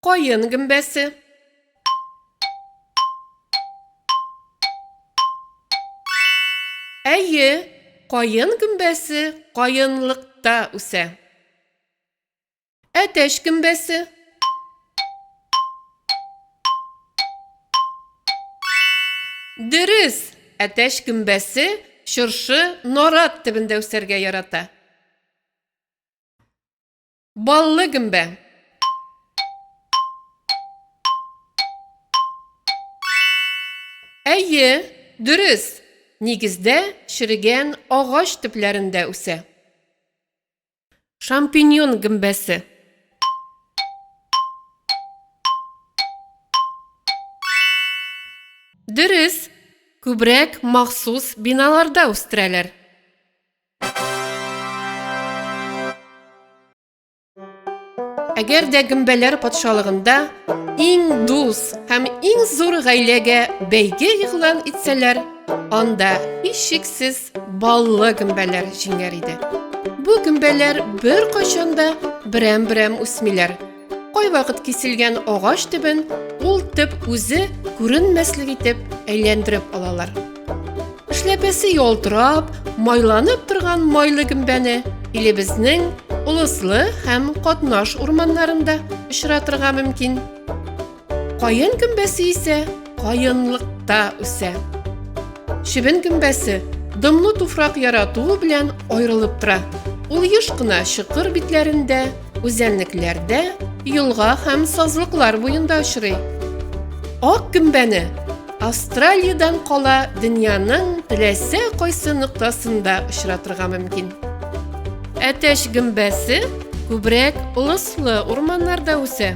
Каен гөмбәсе. Әйе, каен гөмбәсе каенлыкта үсә. Әтәч гөмбәсе. Дөрес, әтәч гөмбәсе чыршы нарат төбендә үсәргә ярата. Баллы гөмбә. Әйе, дөрес. Нигездә черегән агач төпләрендә үсә. Шампиньон гөмбәсе. Дөрес, күбрәк махсус биналарда үстерәләр. Әгәр дә гөмбәләр патшалыгында иң дус һәм иң зур гаиләгә бәйге игълан итсәләр, анда һичшиксез баллы гөмбәләр җиңәр иде. Бу гөмбәләр бер кайчанда берәм-берәм үсмиләр. Кайвакыт киселгән агач төбен ул төп үзе күренмәслек итеп әйләндереп алалар. Эшләпәсе ялтырап, майланып торган майлы гөмбәне илебезнең Олыслы һәм Катнаш урманнарында очратырга мөмкин. Каен гөмбәсе исә каенлыкта үсә. Чебен гөмбәсе дымлы туфрак яратуы белән аерылып тора. Ул еш кына чокыр битләрендә, үзәнлекләрдә, елга һәм сазлыклар буенда очрый. Ак гөмбәне Австралиядән кала дөньяның теләсә кайсы ноктасында очратырга мөмкин. Әтәч гөмбәсе күбрәк лыслы урманнарда үсә.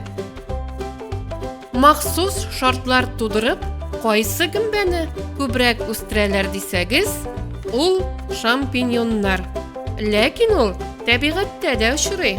Махсус шартлар тудырып, кайсы гөмбәне күбрәк үстерәләр дисәгез, ул шампиньоннар. Ләкин ул тәбигатьтә дә очрый.